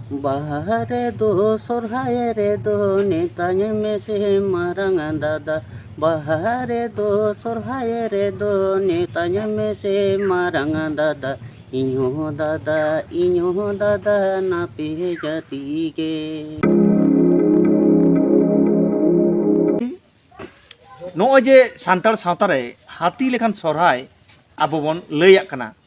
ᱵᱟᱦᱟ ᱨᱮᱫᱚ ᱥᱚᱨᱦᱟᱭ ᱨᱮᱫᱚ ᱱᱮᱛᱟᱧ ᱢᱮᱥᱮ ᱢᱟᱨᱟᱝ ᱫᱟᱫᱟ ᱵᱟᱦᱟ ᱨᱮᱫᱚ ᱥᱚᱨᱦᱟᱭ ᱨᱮᱫᱚ ᱱᱮᱛᱟᱧ ᱢᱮᱥᱮ ᱢᱟᱨᱟᱝ ᱫᱟᱫᱟ ᱤᱧ ᱦᱚᱸ ᱫᱟᱫᱟ ᱤᱧ ᱦᱚᱸ ᱫᱟᱫᱟ ᱱᱟᱯᱮ ᱡᱟᱹᱛᱤ ᱜᱮ ᱱᱚᱜᱼᱚᱭ ᱡᱮ ᱥᱟᱱᱛᱟᱲ ᱥᱟᱶᱛᱟ ᱨᱮ ᱦᱟᱹᱛᱤ ᱞᱮᱠᱟᱱ ᱥᱚᱨᱦᱟᱭ ᱟᱵᱚ ᱵᱚᱱ ᱞᱟᱹᱭᱟᱜ ᱠᱟᱱᱟ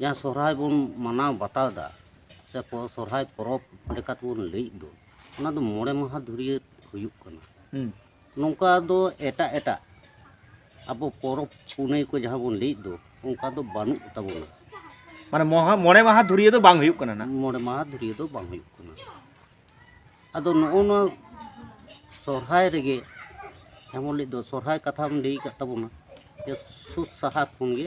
ᱡᱟᱦᱟᱸ ᱥᱚᱦᱨᱟᱭ ᱵᱚᱱ ᱢᱟᱱᱟᱣ ᱵᱟᱛᱟᱣ ᱮᱫᱟ ᱥᱮ ᱥᱚᱦᱨᱟᱭ ᱯᱚᱨᱚᱵᱽ ᱞᱮᱠᱟ ᱛᱮᱵᱚᱱ ᱞᱟᱹᱭᱮᱫ ᱫᱚ ᱚᱱᱟ ᱫᱚ ᱢᱚᱬᱮ ᱢᱟᱦᱟ ᱫᱷᱩᱨᱭᱟᱹ ᱦᱩᱭᱩᱜ ᱠᱟᱱᱟ ᱱᱚᱝᱠᱟ ᱫᱚ ᱮᱴᱟᱜ ᱮᱴᱟᱜ ᱟᱵᱚ ᱯᱚᱨᱚᱵᱽ ᱯᱩᱱᱟᱹᱭ ᱠᱚ ᱡᱟᱦᱟᱸ ᱵᱚᱱ ᱞᱟᱹᱭᱮᱫ ᱫᱚ ᱚᱱᱠᱟ ᱫᱚ ᱵᱟᱹᱱᱩᱜ ᱛᱟᱵᱚᱱᱟ ᱢᱟᱱᱮ ᱢᱚᱦᱟ ᱢᱚᱬᱮ ᱢᱟᱦᱟ ᱫᱷᱩᱨᱭᱟᱹ ᱫᱚ ᱵᱟᱝ ᱦᱩᱭᱩᱜ ᱠᱟᱱᱟ ᱱᱟᱜ ᱢᱚᱬᱮ ᱢᱟᱦᱟ ᱫᱷᱩᱨᱭᱟᱹ ᱫᱚ ᱵᱟᱝ ᱦᱩᱭᱩᱜ ᱠᱟᱱᱟ ᱟᱫᱚ ᱱᱚᱜᱼᱚ ᱱᱚᱣᱟ ᱥᱚᱦᱨᱟᱭ ᱨᱮᱜᱮ ᱮᱢᱚᱱ ᱞᱟᱹᱜᱤᱫ ᱫᱚ ᱥᱚᱦᱨᱟᱭ ᱠᱟᱛᱷᱟᱢ ᱞᱟᱹᱭ ᱟᱠᱟᱫ ᱛᱟᱵᱚᱱᱟ ᱡᱮ ᱥᱩᱫ ᱥᱟᱦᱟᱨ ᱠᱷᱚᱱ ᱜᱮ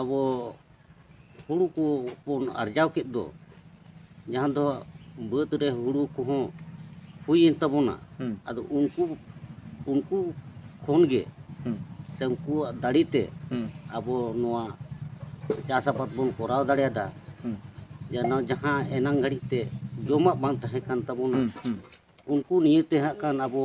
ᱟᱵᱚ ᱦᱩᱲᱩ ᱠᱚ ᱵᱚᱱ ᱟᱨᱡᱟᱣ ᱠᱮᱫ ᱫᱚ ᱡᱟᱦᱟᱸ ᱫᱚ ᱵᱟᱹᱫᱽ ᱨᱮ ᱦᱩᱲᱩ ᱠᱚᱦᱚᱸ ᱦᱩᱭᱮᱱ ᱛᱟᱵᱚᱱᱟ ᱦᱩᱸ ᱟᱫᱚ ᱩᱱᱠᱩ ᱩᱱᱠᱩ ᱠᱷᱚᱱ ᱜᱮ ᱦᱩᱸ ᱥᱮ ᱩᱱᱠᱩᱣᱟᱜ ᱫᱟᱲᱮ ᱛᱮ ᱦᱩᱸ ᱟᱵᱚ ᱱᱚᱣᱟ ᱪᱟᱥ ᱟᱵᱟᱫ ᱵᱚᱱ ᱠᱚᱨᱟᱣ ᱫᱟᱲᱮᱭᱟᱫᱟ ᱦᱩᱸ ᱡᱮᱱᱚ ᱡᱟᱦᱟᱸ ᱮᱱᱟᱝ ᱜᱷᱟᱹᱲᱤᱡ ᱛᱮ ᱡᱚᱢᱟᱜ ᱵᱟᱝ ᱛᱟᱦᱮᱸ ᱠᱟᱱ ᱛᱟᱵᱚᱱᱟ ᱦᱩᱸ ᱦᱩᱸ ᱩᱱᱠᱩ ᱱᱤᱭᱟᱹᱛᱮ ᱦᱟᱸᱜ ᱠᱷᱟᱱ ᱟᱵᱚ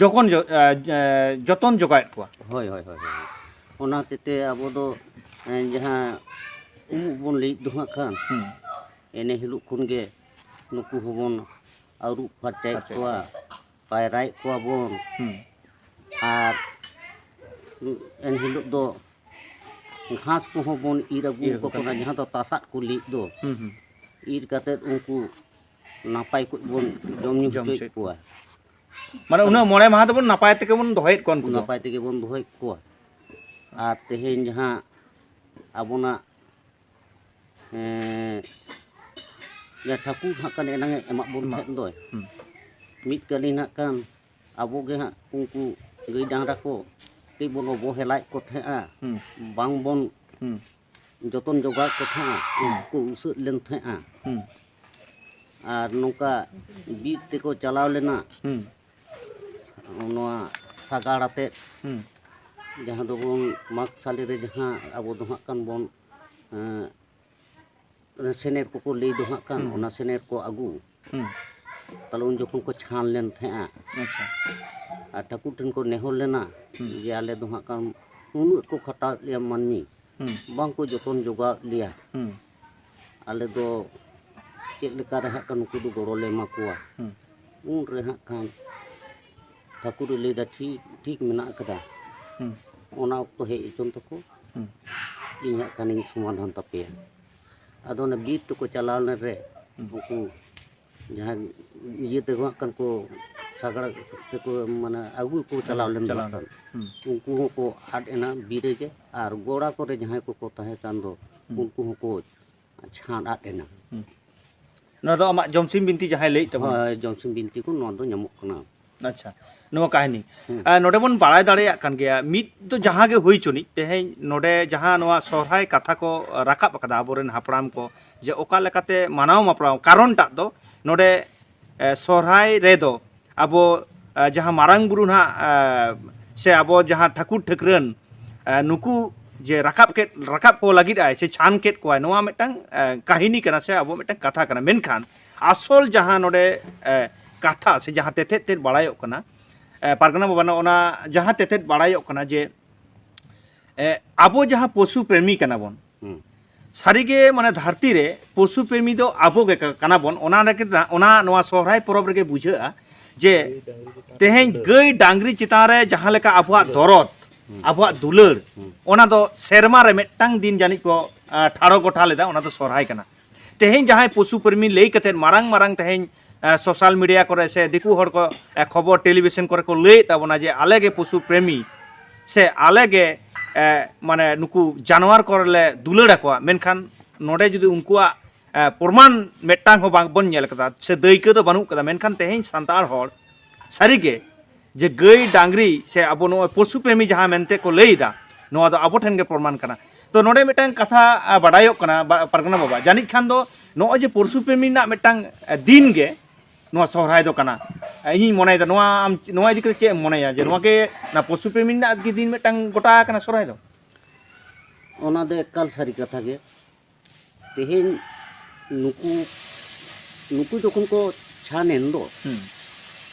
ᱡᱚᱜᱚᱱ ᱡᱚᱛᱚᱱ ᱡᱚᱜᱟᱣᱮᱫ ᱠᱚᱣᱟ ᱦᱳᱭ ᱦᱳᱭ ᱦᱳᱭ ᱚᱱᱟ ᱦᱚᱛᱮᱡ ᱛᱮ ᱟᱵᱚ ᱫᱚ ᱡᱟᱦᱟᱸ ᱩᱢᱩᱜ ᱵᱚᱱ ᱞᱟᱹᱭᱮᱫ ᱫᱚ ᱦᱟᱸᱜ ᱠᱷᱟᱱ ᱮᱱᱮ ᱦᱤᱞᱳᱜ ᱠᱷᱚᱱ ᱜᱮ ᱱᱩᱠᱩ ᱦᱚᱸᱵᱚᱱ ᱟᱹᱨᱩᱵ ᱯᱷᱟᱨᱪᱟᱭᱮᱫ ᱠᱚᱣᱟ ᱯᱟᱭᱨᱟᱭᱮᱫ ᱠᱚᱣᱟ ᱵᱚᱱ ᱟᱨ ᱮᱱ ᱦᱤᱞᱳᱜ ᱫᱚ ᱜᱷᱟᱥ ᱠᱚᱦᱚᱸ ᱵᱚᱱ ᱤᱨ ᱟᱹᱜᱩ ᱟᱠᱚ ᱠᱟᱱᱟ ᱡᱟᱦᱟᱸ ᱫᱚ ᱛᱟᱥᱟᱫ ᱠᱚ ᱞᱟᱹᱭᱮᱫ ᱫᱚ ᱤᱨ ᱠᱟᱛᱮᱫ ᱩᱱᱠᱩ ᱱᱟᱯᱟᱭ ᱠᱚᱡ ᱵᱚᱱ ᱡᱚᱢ ᱧᱩ ᱦᱚᱪᱚᱭᱮᱫ ᱠᱚᱣᱟ ᱢᱟᱱᱮ ᱩᱱᱟᱹᱜ ᱢᱚᱬᱮ ᱢᱟᱦᱟ ᱫᱚᱵᱚᱱ ᱱᱟᱯᱟᱭ ᱛᱮᱜᱮ ᱵᱚᱱ ᱫᱚᱦᱚᱭᱮᱫ ᱠᱚᱣᱟ ᱩᱱᱠᱩ ᱫᱚ ᱱᱟᱯᱟᱭ ᱛᱮᱜᱮ ᱵᱚᱱ ᱫᱚᱦᱚᱭᱮᱫ ᱠᱚᱣᱟ ᱟᱨ ᱛᱮᱦᱮᱧ ᱡᱟᱦᱟᱸ ᱟᱵᱚᱱᱟᱜ ᱮᱸ, ᱡᱟᱦᱟᱸ ᱴᱷᱟᱹᱠᱩᱨ ᱦᱟᱸᱜ ᱠᱟᱱ ᱮᱱᱟᱝ ᱮ ᱮᱢᱟᱜ ᱵᱚᱱ ᱛᱟᱦᱮᱸᱫ ᱫᱚᱭ ᱦᱩᱸ᱾ ᱢᱤᱫ ᱠᱟᱹᱞᱤᱱ ᱦᱟᱸᱜ ᱠᱟᱱ ᱟᱵᱚ ᱜᱮ ᱦᱟᱸᱜ ᱩᱱᱠᱩ ᱜᱟᱹᱭ ᱰᱟᱝᱨᱟ ᱠᱚ ᱠᱟᱹᱡ ᱵᱚᱱ ᱚᱵᱚᱦᱮᱞᱟᱭᱮᱫ ᱠᱚ ᱛᱟᱦᱮᱸᱜᱼᱟ ᱦᱩᱸ ᱵᱟᱝ ᱵᱚᱱ ᱦᱩᱸ ᱡᱚᱛᱚᱱ ᱡᱚᱜᱟᱣᱮᱫ ᱠᱚ ᱛᱟᱦᱮᱸᱫᱼᱟ ᱩᱱᱠᱩ ᱠᱚ ᱩᱥᱟᱹᱫ ᱞᱮᱱ ᱛᱟᱦᱮᱸᱫᱼᱟ ᱟᱨ ᱱᱚᱝᱠᱟ ᱵᱤᱨ ᱛᱮᱠᱚ ᱪᱟᱞᱟᱣ ᱞᱮᱱᱟ ᱱᱚᱣᱟ ᱥᱟᱜᱟᱲ ᱟᱛᱮᱫ ᱡᱟᱦᱟᱸ ᱫᱚᱵᱚᱱ ᱢᱟᱜᱽ ᱥᱟᱞᱮ ᱨᱮ ᱡᱟᱦᱟᱸ ᱟᱵᱚ ᱫᱚ ᱦᱟᱸᱜ ᱠᱷᱟᱱ ᱵᱚᱱ ᱚᱱᱟ ᱥᱮᱱᱮᱨ ᱠᱚᱠᱚ ᱞᱟᱹᱭ ᱫᱚ ᱦᱟᱸᱜ ᱠᱟᱱ ᱚᱱᱟ ᱥᱮᱱᱮᱨ ᱠᱚ ᱟᱹᱜᱩ ᱛᱟᱦᱚᱞᱮ ᱩᱱ ᱡᱚᱠᱷᱚᱱ ᱠᱚ ᱪᱷᱟᱱ ᱞᱮᱱ ᱛᱟᱦᱮᱸᱜᱼᱟ ᱟᱪᱪᱷᱟ ᱟᱨ ᱴᱷᱟᱹᱠᱩᱨ ᱴᱷᱮᱱ ᱠᱚ ᱱᱮᱦᱚᱨ ᱞᱮᱱᱟ ᱡᱮ ᱟᱞᱮ ᱫᱚ ᱦᱟᱸᱜ ᱠᱟᱱ ᱩᱱᱟᱹᱜ ᱠᱚ ᱠᱷᱟᱴᱟᱣᱮᱫ ᱞᱮᱭᱟ ᱢᱟᱹᱱᱢᱤ ᱵᱟᱝᱠᱚ ᱡᱚᱛᱚᱱ ᱡᱚᱜᱟᱣᱮᱫ ᱞᱮᱭᱟ ᱟᱞᱮ ᱫᱚ ᱪᱮᱫ ᱞᱮᱠᱟᱨᱮ ᱦᱟᱸᱜ ᱠᱟᱱ ᱱᱩᱠᱩ ᱫᱚ ᱜᱚᱲᱚᱞᱮ ᱮᱢᱟ ᱠᱚᱣᱟ ᱩᱱᱨᱮ ᱦᱟᱸᱜ ᱠᱷᱟᱱ ᱴᱷᱟᱹᱠᱩᱨ ᱮ ᱞᱟᱹᱭ ᱮᱫᱟ ᱴᱷᱤᱠ ᱴᱷᱤᱠ ᱢᱮᱱᱟᱜ ᱟᱠᱟᱫᱟ ᱚᱱᱟ ᱚᱠᱛᱚ ᱦᱮᱡ ᱦᱚᱪᱚᱱ ᱛᱟᱠᱚ ᱤᱧ ᱦᱟᱸᱜ ᱠᱷᱟᱱᱤᱧ ᱥᱚᱢᱟᱫᱷᱟᱱ ᱛᱟᱯᱮᱭᱟ ᱟᱫᱚ ᱚᱱᱟ ᱵᱤᱨ ᱛᱮᱠᱚ ᱪᱟᱞᱟᱣ ᱞᱮᱱ ᱨᱮ ᱩᱱᱠᱩ ᱡᱟᱦᱟᱸ ᱤᱭᱟᱹ ᱛᱮᱠᱚ ᱦᱟᱸᱜ ᱠᱷᱟᱱ ᱠᱚ ᱥᱟᱜᱟᱲ ᱛᱮᱠᱚ ᱢᱟᱱᱮ ᱟᱹᱜᱩ ᱠᱚ ᱪᱟᱞᱟᱣ ᱞᱮᱱ ᱫᱚ ᱦᱟᱸᱜ ᱠᱷᱟᱱ ᱩᱱᱠᱩ ᱦᱚᱸᱠᱚ ᱟᱫ ᱮᱱᱟ ᱵᱤᱨ ᱨᱮᱜᱮ ᱟᱨ ᱜᱚᱲᱟ ᱠᱚᱨᱮ ᱡᱟᱦᱟᱸᱭ ᱠᱚᱠᱚ ᱛᱟᱦᱮᱸ ᱠᱟᱱ ᱫᱚ ᱩᱱᱠᱩ ᱦᱚᱸᱠᱚ ᱪᱷᱟᱸᱫ ᱟᱫ ᱮᱱᱟ ᱱᱚᱣᱟ ᱫᱚ ᱟᱢᱟᱜ ᱡᱚᱢᱥᱤᱢ ᱵᱤᱱᱛᱤ ᱡᱟᱦᱟᱸᱭ ᱞᱟᱹᱭᱮᱫ ᱛᱟᱵᱚᱱᱟ ᱦᱳᱭ ᱡᱚᱢᱥᱤᱢ ᱵᱤᱱᱛᱤ ᱠᱚ ᱱᱚᱣᱟ ᱫᱚ ᱧᱟᱢᱚᱜ ᱠᱟᱱᱟ ᱟᱪᱪᱷᱟ ᱱᱚᱣᱟ ᱠᱟᱹᱦᱱᱤ ᱟᱨ ᱱᱚᱰᱮ ᱵᱚᱱ ᱵᱟᱲᱟᱭ ᱫᱟᱲᱮᱭᱟᱜ ᱠᱟᱱ ᱜᱮᱭᱟ ᱢᱤᱫ ᱫᱚ ᱡᱟᱦᱟᱸ ᱜᱮ ᱦᱩᱭ ᱪᱚᱱᱤᱡ ᱛᱮᱦᱮᱧ ᱱᱚᱰᱮ ᱡᱟᱦᱟᱸ ᱱᱚᱣᱟ ᱥᱚᱨᱦᱟᱭ ᱠᱟᱛᱷᱟ ᱠᱚ ᱨᱟᱠᱟᱵ ᱟᱠᱟᱫᱟ ᱟᱵᱚᱨᱮᱱ ᱦᱟᱯᱲᱟᱢ ᱠᱚ ᱡᱮ ᱚᱠᱟ ᱞᱮᱠᱟᱛᱮ ᱢᱟᱱᱟᱣ ᱢᱟᱯᱲᱟᱣ ᱠᱟᱨᱚᱱᱴᱟᱜ ᱫᱚ ᱱᱚᱰᱮ ᱥᱚᱦᱨᱟᱭ ᱨᱮ ᱫᱚ ᱟᱵᱚ ᱡᱟᱦᱟᱸ ᱢᱟᱨᱟᱝ ᱵᱩᱨᱩ ᱱᱟᱦᱟᱜ ᱥᱮ ᱟᱵᱚ ᱡᱟᱦᱟᱸ ᱴᱷᱟᱹᱠᱩᱨ ᱴᱷᱟᱹᱠᱨᱟᱹᱱ ᱱᱩᱠᱩ ᱡᱮ ᱨᱟᱠᱟᱵ ᱠᱮᱫ ᱨᱟᱠᱟᱵ ᱠᱚ ᱞᱟᱹᱜᱤᱫ ᱟᱭ ᱥᱮ ᱪᱷᱟᱱ ᱠᱮᱫ ᱠᱚᱣᱟᱭ ᱱᱚᱣᱟ ᱢᱤᱫᱴᱟᱝ ᱠᱟᱹᱦᱤᱱᱤ ᱠᱟᱱᱟ ᱥᱮ ᱟᱵᱚ ᱢᱤᱫᱴᱟᱝ ᱠᱟᱛᱷᱟ ᱠᱟᱱᱟ ᱢᱮᱱᱠᱷᱟᱱ ᱟᱥᱚᱞ ᱡᱟᱦᱟᱸ ᱱᱚᱰᱮ ᱠᱟᱛᱷᱟ ᱥᱮ ᱡᱟᱦᱟᱸ ᱛᱮᱛᱮᱫ ᱛᱮᱫ ᱵᱟᱲᱟᱭᱚᱜ ᱠᱟᱱᱟ ᱯᱟᱨᱜᱟᱱᱟ ᱵᱟᱵᱟ ᱱᱚᱜᱼᱚ ᱱᱟ ᱡᱟᱦᱟᱸ ᱛᱮᱛᱮᱫ ᱵᱟᱲᱟᱭᱚᱜ ᱠᱟᱱᱟ ᱡᱮ ᱟᱵᱚ ᱡᱟᱦᱟᱸ ᱯᱚᱥᱩ ᱯᱨᱮᱢᱤ ᱠᱟᱱᱟ ᱵᱚᱱ ᱥᱟᱹᱨᱤ ᱜᱮ ᱢᱟᱱᱮ ᱫᱷᱟᱹᱨᱛᱤ ᱨᱮ ᱯᱚᱥᱩ ᱯᱨᱮᱢᱤ ᱫᱚ ᱟᱵᱚ ᱜᱮ ᱠᱟᱱᱟ ᱵᱚᱱ ᱚᱱᱟ ᱨᱮᱜᱮ ᱚᱱᱟ ᱱᱚᱣᱟ ᱥᱚᱦᱨᱟᱭ ᱯᱚᱨᱚᱵᱽ ᱨᱮᱜᱮ ᱵᱩᱡᱷᱟᱹᱜᱼᱟ ᱡᱮ ᱛᱮᱦᱮᱧ ᱜᱟᱹᱭ ᱰᱟᱝᱨᱤ ᱪᱮᱛᱟᱱ ᱨᱮ ᱡᱟᱦᱟᱸ ᱞᱮᱠᱟ ᱟᱵᱚᱣᱟᱜ ᱫᱚᱨᱚᱫ ᱟᱵᱚᱣᱟᱜ ᱫᱩᱞᱟᱹᱲ ᱚᱱᱟ ᱫᱚ ᱥᱮᱨᱢᱟ ᱨᱮ ᱢᱤᱫᱴᱟᱝ ᱫᱤᱱ ᱡᱟᱹᱱᱤᱡ ᱠᱚ ᱴᱷᱟᱲᱚ ᱜᱚᱴᱟ ᱞᱮᱫᱟ ᱚᱱᱟ ᱫᱚ ᱥᱚᱦᱨᱟᱭ ᱠᱟᱱᱟ ᱛᱮᱦᱮᱧ ᱡᱟᱦᱟᱸᱭ ᱯᱚᱥᱩ ᱯᱨᱮᱢᱤ ᱞᱟᱹᱭ ᱠᱟᱛᱮ ᱢᱟᱨᱟᱝ ᱢᱟᱨᱟᱝ ᱛᱮᱦᱮᱧ ᱥᱳᱥᱟᱞ ᱢᱤᱰᱤᱭᱟ ᱠᱚᱨᱮ ᱥᱮ ᱫᱤᱠᱩ ᱦᱚᱲ ᱠᱚ ᱠᱷᱚᱵᱚᱨ ᱴᱮᱞᱤᱵᱷᱤᱥᱚᱱ ᱠᱚᱨᱮ ᱠᱚ ᱞᱟᱹᱭᱮᱫ ᱛᱟᱵᱚᱱᱟ ᱡᱮ ᱟᱞᱮ ᱜᱮ ᱯᱚᱥᱩ ᱯᱨᱮᱢᱤ ᱥᱮ ᱟᱞᱮ ᱜᱮ ᱢᱟᱱᱮ ᱱᱩᱠᱩ ᱡᱟᱱᱣᱟᱨ ᱠᱚ ᱞᱮ ᱫᱩᱞᱟᱹᱲ ᱟᱠᱚᱣᱟ ᱢᱮᱱᱠᱷᱟᱱ ᱱᱚᱰᱮ ᱡᱩᱫᱤ ᱩᱱᱠᱩᱣᱟᱜ ᱯᱨᱚᱢᱟᱱ ᱢᱤᱫᱴᱟᱝ ᱦᱚᱸ ᱵᱟᱝ ᱵᱚᱱ ᱧᱮᱞ ᱠᱟᱫᱟ ᱥᱮ ᱫᱟᱹᱭᱠᱟᱹ ᱫᱚ ᱵᱟᱹᱱᱩᱜ ᱠᱟᱫᱟ ᱢᱮᱱᱠᱷᱟᱱ ᱛᱮᱦᱮᱧ ᱥᱟᱱᱛᱟᱲ ᱦᱚᱲ ᱥᱟᱹᱨᱤ ᱜᱮ ᱡᱮ ᱜᱟᱹᱭ ᱰᱟᱝᱨᱤ ᱥᱮ ᱟᱵᱚ ᱱᱚᱜᱼᱚᱭ ᱯᱚᱥᱩ ᱯᱨᱮᱢᱤ ᱡᱟᱦᱟᱸ ᱢᱮᱱᱛᱮ ᱠᱚ ᱞᱟᱹᱭᱮᱫᱟ ᱱᱚᱣᱟ ᱫᱚ ᱟᱵᱚ ᱴᱷᱮᱱ ᱜᱮ ᱯᱨᱚᱢᱟᱱ ᱠᱟᱱᱟ ᱛᱚ ᱱᱚᱰᱮ ᱢᱤᱫᱴᱟᱝ ᱠᱟᱛᱷᱟ ᱵᱟᱰᱟᱭᱚᱜ ᱠᱟᱱᱟ ᱯᱟᱨᱜᱟᱱᱟ ᱵᱟᱵᱟ ᱡᱟᱹᱱᱤᱡ ᱠᱷᱟᱱ ᱫᱚ ᱱᱚᱜᱼᱚᱭ ᱡᱮ ᱯᱚᱥᱩ ᱯᱨᱮᱢᱤ ᱨᱮᱱᱟᱜ ᱢᱤᱫᱴᱟᱝ ᱫᱤᱱ ᱜᱮ ᱱᱚᱣᱟ ᱥᱚᱦᱨᱟᱭ ᱫᱚ ᱠᱟᱱᱟ ᱤᱧᱤᱧ ᱢᱚᱱᱮᱭᱮᱫᱟ ᱱᱚᱣᱟ ᱟᱢ ᱱᱚᱣᱟ ᱤᱫᱤ ᱠᱟᱛᱮ ᱪᱮᱫ ᱮᱢ ᱢᱚᱱᱮᱭᱟ ᱡᱮ ᱱᱚᱣᱟ ᱜᱮ ᱚᱱᱟ ᱯᱚᱥᱩ ᱯᱨᱮᱢᱤ ᱨᱮᱱᱟᱜ ᱜᱮ ᱫᱤᱱ ᱢᱤᱫᱴᱟᱝ ᱜᱚᱴᱟ ᱟᱠᱟᱱᱟ ᱥᱚᱦᱨᱟᱭ ᱫᱚ ᱚᱱᱟ ᱫᱚ ᱮᱠᱟᱞ ᱥᱟᱹᱨᱤ ᱠᱟᱛᱷᱟ ᱜᱮ ᱛᱮᱦᱮᱧ ᱱᱩᱠᱩ ᱱᱩᱠᱩ ᱡᱚᱠᱷᱚᱱ ᱠᱚ ᱪᱷᱟᱱ ᱮᱱ ᱫᱚ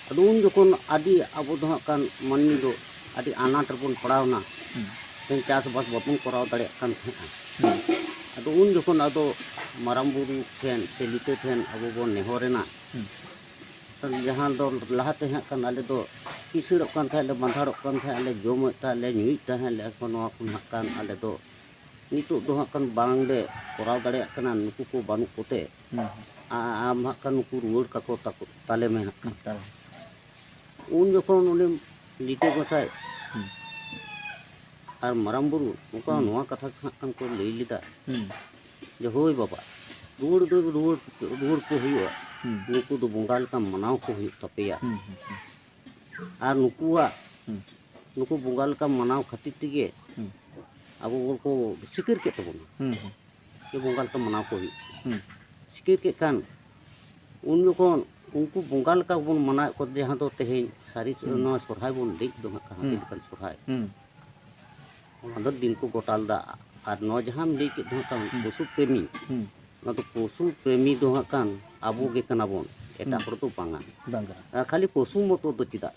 ᱟᱫᱚ ᱩᱱ ᱡᱚᱠᱷᱚᱱ ᱟᱹᱰᱤ ᱟᱵᱚ ᱫᱚ ᱦᱟᱸᱜ ᱠᱟᱱ ᱢᱟᱹᱱᱢᱤ ᱫᱚ ᱟᱹᱰᱤ ᱟᱱᱟᱴ ᱨᱮᱵᱚᱱ ᱯᱟᱲᱟᱣ ᱮᱱᱟ ᱛᱮᱦᱮᱧ ᱪᱟᱥᱵᱟᱥ ᱵᱟᱵᱚᱱ ᱠᱚᱨᱟᱣ ᱫᱟᱲᱮᱭᱟᱜ ᱠᱟᱱ ᱛᱟᱦᱮᱸᱜᱼᱟ ᱟᱫᱚ ᱩᱱ ᱡᱚᱠᱷᱚᱱ ᱟᱫᱚ ᱢᱟᱨᱟᱝ ᱵᱩᱨᱩ ᱴᱷᱮᱱ ᱥᱮ ᱞᱤᱴᱟᱹ ᱴᱷᱮᱱ ᱟᱵᱚ ᱵᱚᱱ ᱱᱮᱦᱚᱨ ᱮᱱᱟ ᱡᱟᱦᱟᱸ ᱫᱚ ᱞᱟᱦᱟᱛᱮ ᱦᱟᱸᱜ ᱠᱟᱱ ᱟᱞᱮ ᱫᱚ ᱠᱤᱥᱟᱹᱬᱚᱜ ᱠᱟᱱ ᱛᱟᱦᱮᱸᱫ ᱞᱮ ᱵᱟᱸᱫᱷᱟᱲᱚᱜ ᱠᱟᱱ ᱛᱟᱦᱮᱸᱫ ᱞᱮ ᱡᱚᱢᱮᱫ ᱛᱟᱦᱮᱸᱫ ᱞᱮ ᱧᱩᱭᱮᱫ ᱛᱟᱦᱮᱸᱫ ᱞᱮ ᱮᱠᱷᱚᱱ ᱱᱚᱣᱟ ᱠᱚ ᱦᱟᱸᱜ ᱠᱟᱱ ᱟᱞᱮ ᱫᱚ ᱱᱤᱛᱚᱜ ᱫᱚ ᱦᱟᱸᱜ ᱠᱷᱟᱱ ᱵᱟᱝᱞᱮ ᱠᱚᱨᱟᱣ ᱫᱟᱲᱮᱭᱟᱜ ᱠᱟᱱᱟ ᱱᱩᱠᱩ ᱠᱚ ᱵᱟᱹᱱᱩᱜ ᱠᱚᱛᱮ ᱟᱢ ᱦᱟᱸᱜ ᱠᱷᱟᱱ ᱱᱩᱠᱩ ᱨᱩᱣᱟᱹᱲ ᱠᱟᱠᱚ ᱛᱟᱠᱚ ᱛᱟᱞᱮ ᱢᱮ ᱦᱟᱸᱜ ᱠᱷᱟᱱ ᱩᱱ ᱡᱚᱠᱷᱚᱱ ᱩᱱᱤ ᱞᱤᱴᱟᱹ ᱜᱚᱸᱥᱟᱭ ᱟᱨ ᱢᱟᱨᱟᱝ ᱵᱩᱨᱩ ᱱᱚᱝᱠᱟ ᱱᱚᱣᱟ ᱠᱟᱛᱷᱟ ᱦᱟᱸᱜ ᱠᱷᱟᱱ ᱠᱚ ᱞᱟᱹᱭ ᱞᱮᱫᱟ ᱡᱮ ᱦᱳᱭ ᱵᱟᱵᱟ ᱨᱩᱣᱟᱹᱲ ᱫᱚ ᱨᱩᱣᱟᱹᱲ ᱨᱩᱣᱟᱹᱲ ᱠᱚ ᱦᱩᱭᱩᱜᱼᱟ ᱱᱩᱠᱩ ᱫᱚ ᱵᱚᱸᱜᱟ ᱞᱮᱠᱟ ᱢᱟᱱᱟᱣ ᱠᱚ ᱦᱩᱭᱩᱜ ᱛᱟᱯᱮᱭᱟ ᱟᱨ ᱱᱩᱠᱩᱣᱟᱜ ᱱᱩᱠᱩ ᱵᱚᱸᱜᱟ ᱞᱮᱠᱟ ᱢᱟᱱᱟᱣ ᱠᱷᱟᱹᱛᱤᱨ ᱛᱮᱜᱮ ᱟᱵᱚ ᱵᱚᱱ ᱠᱚ ᱥᱤᱠᱟᱹᱨ ᱠᱮᱫ ᱛᱟᱵᱚᱱᱟ ᱡᱮ ᱵᱚᱸᱜᱟ ᱞᱮᱠᱟ ᱢᱟᱱᱟᱣ ᱠᱚ ᱦᱩᱭᱩᱜ ᱥᱤᱠᱟᱹᱨ ᱠᱮᱫ ᱠᱷᱟᱱ ᱩᱱ ᱡᱚᱠᱷᱚᱱ ᱩᱱᱠᱩ ᱵᱚᱸᱜᱟ ᱞᱮᱠᱟ ᱵᱚᱱ ᱢᱟᱱᱟᱣᱮᱫ ᱠᱚ ᱡᱟᱦᱟᱸ ᱫᱚ ᱛᱮᱦᱮᱧ ᱥᱟᱹᱨᱤ ᱱᱚᱣᱟ ᱥᱚᱨᱦᱟᱭ ᱵᱚᱱ ᱞᱟᱹᱭ ᱫᱚ ᱦᱟᱸᱜ ᱦᱟᱹᱛᱤ ᱞᱮᱠᱟᱱ ᱥᱚᱨᱦᱟᱭ ᱚᱱᱟ ᱫᱚ ᱫᱤᱱ ᱠᱚ ᱜᱚᱴᱟ ᱞᱮᱫᱟ ᱟᱨ ᱱᱚᱣᱟ ᱡᱟᱦᱟᱸᱢ ᱞᱟᱹᱭ ᱠᱮᱫ ᱫᱚ ᱦᱟᱸᱜ ᱠᱟᱱ ᱯᱚᱥᱩ ᱯᱨᱮᱢᱤ ᱚᱱᱟ ᱫᱚ ᱯᱚᱥᱩ ᱯᱨᱮᱢᱤ ᱫᱚ ᱦᱟᱸᱜ ᱠᱟᱱ ᱟᱵᱚ ᱜᱮ ᱠᱟᱱᱟ ᱵᱚᱱ ᱮᱴᱟᱜ ᱦᱚᱲ ᱫᱚ ᱵᱟᱝᱟ ᱠᱷᱟᱹᱞᱤ ᱯᱚᱥᱩ ᱢᱚᱛᱚ ᱫᱚ ᱪᱮᱫᱟᱜ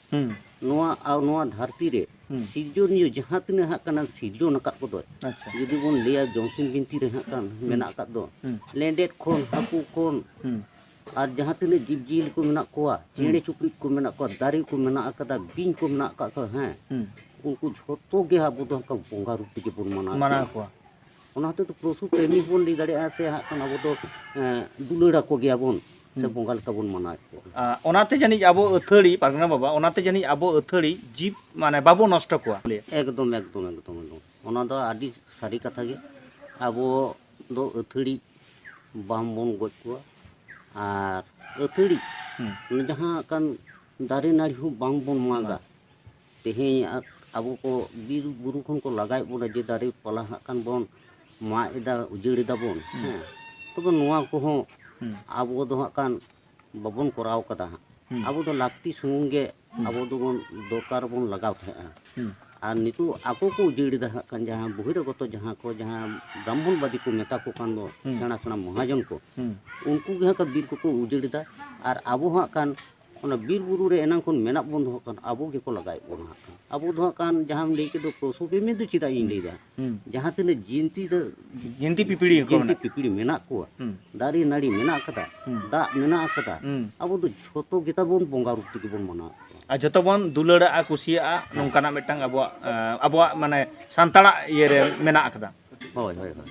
ᱱᱚᱣᱟ ᱱᱚᱣᱟ ᱫᱷᱟᱹᱨᱛᱤ ᱨᱮ ᱦᱩᱸ ᱥᱤᱨᱡᱚᱱᱤᱭᱟᱹ ᱡᱟᱦᱟᱸ ᱛᱤᱱᱟᱹᱜ ᱦᱟᱸᱜ ᱠᱟᱱᱟ ᱥᱤᱨᱡᱚᱱ ᱟᱠᱟᱫ ᱠᱚᱫᱚᱭ ᱟᱪᱪᱷᱟ ᱡᱩᱫᱤ ᱵᱚᱱ ᱞᱟᱹᱭᱟ ᱡᱚᱢᱥᱤᱢ ᱵᱤᱱᱛᱤ ᱨᱮ ᱦᱟᱸᱜ ᱠᱟᱱ ᱢᱮᱱᱟᱜ ᱟᱠᱟᱫ ᱫᱚ ᱦᱩᱸ ᱞᱮᱸᱰᱮᱫ ᱠᱷᱚᱱ ᱦᱟᱹᱠᱩ ᱠᱷᱚᱱ ᱦᱩᱸ ᱟᱨ ᱡᱟᱦᱟᱸ ᱛᱤᱱᱟᱹᱜ ᱡᱤᱵᱽ ᱡᱤᱭᱟᱹᱞᱤ ᱠᱚ ᱢᱮᱱᱟᱜ ᱠᱚᱣᱟ ᱪᱮᱬᱮ ᱪᱩᱯᱲᱤᱡ ᱠᱚ ᱢᱮᱱᱟᱜ ᱠᱚᱣᱟ ᱫᱟᱨᱮ ᱠᱚ ᱢᱮᱱᱟᱜ ᱟᱠᱟᱫᱟ ᱵᱤᱧ ᱠᱚ ᱢᱮᱱᱟᱜ ᱟᱠᱟᱫ ᱠᱚᱣᱟ ᱦᱮᱸ ᱦᱩᱸ ᱩᱱᱠᱩ ᱡᱷᱚᱛᱚ ᱜᱮ ᱟᱵᱚ ᱫᱚ ᱦᱟᱸᱜ ᱠᱷᱟᱱ ᱵᱚᱸᱜᱟ ᱨᱩᱯ ᱛᱮᱜᱮ ᱵᱚᱱ ᱢᱟᱱᱟᱣ ᱢᱟᱱᱟᱣ ᱠᱚᱣᱟ ᱚᱱᱟ ᱦᱚᱛᱮᱡ ᱛᱮ ᱯᱚᱥᱩ ᱯᱨᱮᱢᱤ ᱦᱚᱸᱵᱚᱱ ᱞᱟᱹᱭ ᱫᱟᱲᱮᱭᱟᱜᱼᱟ ᱥᱮ ᱦᱟᱸᱜ ᱠᱷᱟᱱ ᱟᱵᱚ ᱫᱚ ᱫᱩᱞᱟᱹᱲ ᱟᱠᱚ ᱜᱮᱭᱟᱵᱚᱱ ᱥᱮ ᱵᱚᱸᱜᱟ ᱞᱮᱠᱟ ᱵᱚᱱ ᱢᱟᱱᱟᱣᱮᱫ ᱠᱚᱣᱟ ᱚᱱᱟᱛᱮ ᱡᱟᱹᱱᱤᱡ ᱟᱵᱚ ᱟᱹᱛᱷᱟᱹᱲᱤ ᱯᱟᱨᱜᱟᱱᱟ ᱵᱟᱵᱟ ᱚᱱᱟᱛᱮ ᱡᱟᱹᱱᱤᱡ ᱟᱵᱚ ᱟᱹᱛᱷᱟᱹᱲᱤ ᱡᱤᱵ ᱢᱟᱱᱮ ᱵᱟᱵᱚ ᱱᱚᱥᱴᱚ ᱠᱚᱣᱟ ᱮᱠᱫᱚᱢ ᱮᱠᱫᱚᱢ ᱮᱠᱫᱚᱢ ᱮᱠᱫᱚᱢ ᱚᱱᱟ ᱫᱚ ᱟᱹᱰᱤ ᱥᱟᱹᱨᱤ ᱠᱟᱛᱷᱟ ᱜᱮ ᱟᱵᱚ ᱫᱚ ᱟᱹᱛᱷᱟᱹᱲᱤ ᱵᱟᱝᱵᱚᱱ ᱜᱚᱡ ᱠᱚᱣᱟ ᱟᱨ ᱟᱹᱛᱷᱟᱹᱲᱤ ᱡᱟᱦᱟᱸ ᱠᱟᱱ ᱫᱟᱨᱮ ᱱᱟᱹᱲᱤ ᱦᱚᱸ ᱵᱟᱝᱵᱚᱱ ᱢᱟᱜᱟ ᱛᱮᱦᱮᱧ ᱟᱵᱚ ᱠᱚ ᱵᱤᱨ ᱵᱩᱨᱩ ᱠᱷᱚᱱ ᱠᱚ ᱞᱟᱜᱟᱭᱮᱫ ᱵᱚᱱᱟ ᱡᱮ ᱫᱟᱨᱮ ᱯᱟᱞᱟ ᱦᱟᱸᱜ ᱠᱷᱟᱱ ᱵᱚᱱ ᱢᱟᱜ ᱮᱫᱟ ᱩᱡᱟᱹᱲ ᱮᱫᱟ ᱵᱚᱱ ᱦᱮᱸ ᱛᱚᱵᱮ ᱱᱚᱣᱟ ᱠᱚᱦᱚᱸ ᱟᱵᱚ ᱫᱚ ᱦᱟᱸᱜ ᱠᱷᱟᱱ ᱵᱟᱵᱚᱱ ᱠᱚᱨᱟᱣ ᱠᱟᱫᱟ ᱦᱟᱸᱜ ᱟᱵᱚ ᱫᱚ ᱞᱟᱹᱠᱛᱤ ᱥᱩᱢᱩᱝ ᱜᱮ ᱟᱵᱚ ᱫᱚᱵᱚᱱ ᱫᱚᱨᱠᱟᱨ ᱵᱚᱱ ᱞᱟᱜᱟᱣ ᱛᱟᱦᱮᱸᱜᱼᱟ ᱟᱨ ᱱᱤᱛᱚᱜ ᱟᱠᱚ ᱠᱚ ᱩᱡᱟᱹᱲ ᱮᱫᱟ ᱦᱟᱸᱜ ᱠᱷᱟᱱ ᱡᱟᱦᱟᱸ ᱵᱚᱦᱤᱨᱟᱜᱚᱛᱚ ᱡᱟᱦᱟᱸ ᱠᱚ ᱡᱟᱦᱟᱸ ᱵᱨᱟᱦᱢᱚᱱ ᱵᱟᱫᱤ ᱠᱚ ᱢᱮᱛᱟ ᱠᱚ ᱠᱟᱱ ᱫᱚ ᱥᱮᱬᱟ ᱥᱮᱬᱟ ᱢᱚᱦᱟᱡᱚᱱ ᱠᱚ ᱩᱱᱠᱩ ᱜᱮ ᱦᱟᱸᱜ ᱠᱷᱟᱱ ᱵᱤᱨ ᱠᱚᱠᱚ ᱩᱡᱟᱹᱲ ᱮᱫᱟ ᱟᱨ ᱟᱵᱚ ᱦᱟᱸᱜ ᱠᱷᱟᱱ ᱚᱱᱟ ᱵᱤᱨ ᱵᱩᱨᱩ ᱨᱮ ᱮᱱᱟᱝ ᱠᱷᱚᱱ ᱢᱮᱱᱟᱜ ᱵᱚᱱ ᱫᱚᱦᱚ ᱠᱟᱱ ᱟᱵᱚ ᱜᱮᱠᱚ ᱞᱟᱜᱟᱭᱮᱫ ᱵᱚᱱᱟ ᱦᱟᱸᱜ ᱠᱷᱟᱱ ᱟᱵᱚ ᱫᱚ ᱦᱟᱸᱜ ᱠᱷᱟᱱ ᱡᱟᱦᱟᱸᱢ ᱞᱟᱹᱭ ᱠᱮᱫ ᱫᱚ ᱯᱚᱥᱩ ᱯᱨᱮᱢᱤ ᱫᱚ ᱪᱮᱫᱟᱜ ᱤᱧ ᱞᱟᱹᱭᱫᱟ ᱦᱩᱸ ᱡᱟᱦᱟᱸ ᱛᱤᱱᱟᱹᱜ ᱡᱤᱱᱛᱤ ᱫᱚ ᱡᱤᱱᱛᱤ ᱯᱤᱯᱤᱲᱤ ᱠᱚ ᱡᱤᱱᱛᱤ ᱢᱮᱱᱟᱜ ᱯᱤᱯᱤᱲᱤ ᱢᱮᱱᱟᱜ ᱠᱚᱣᱟ ᱦᱩᱸ ᱫᱟᱨᱮ ᱱᱟᱹᱲᱤ ᱢᱮᱱᱟᱜ ᱟᱠᱟᱫᱟ ᱦᱩᱸ᱾ ᱫᱟᱜ ᱢᱮᱱᱟᱜ ᱟᱠᱟᱫᱟ ᱦᱩᱸ ᱟᱵᱚ ᱫᱚ ᱡᱷᱚᱛᱚ ᱜᱮᱛᱟ ᱵᱚᱱ ᱵᱚᱸᱜᱟ ᱨᱩᱯ ᱛᱮᱜᱮ ᱵᱚᱱ ᱢᱟᱱᱟᱣ ᱠᱚᱣᱟ ᱟᱨ ᱡᱚᱛᱚ ᱵᱚᱱ ᱫᱩᱞᱟᱹᱲᱟᱜᱼᱟ ᱠᱩᱥᱤᱭᱟᱜᱼᱟ ᱱᱚᱝᱠᱟᱱᱟᱜ ᱢᱤᱫᱴᱟᱝ ᱟᱵᱚᱣᱟᱜ ᱟᱸ, ᱟᱵᱚᱣᱟᱜ ᱢᱟᱱᱮ ᱥᱟᱱᱛᱟᱲᱟᱜ ᱤᱭᱟᱹᱨᱮ ᱢᱮᱱᱟᱜ ᱟᱠᱟᱫᱟ ᱦᱳᱭ ᱦᱳᱭ ᱦᱳᱭ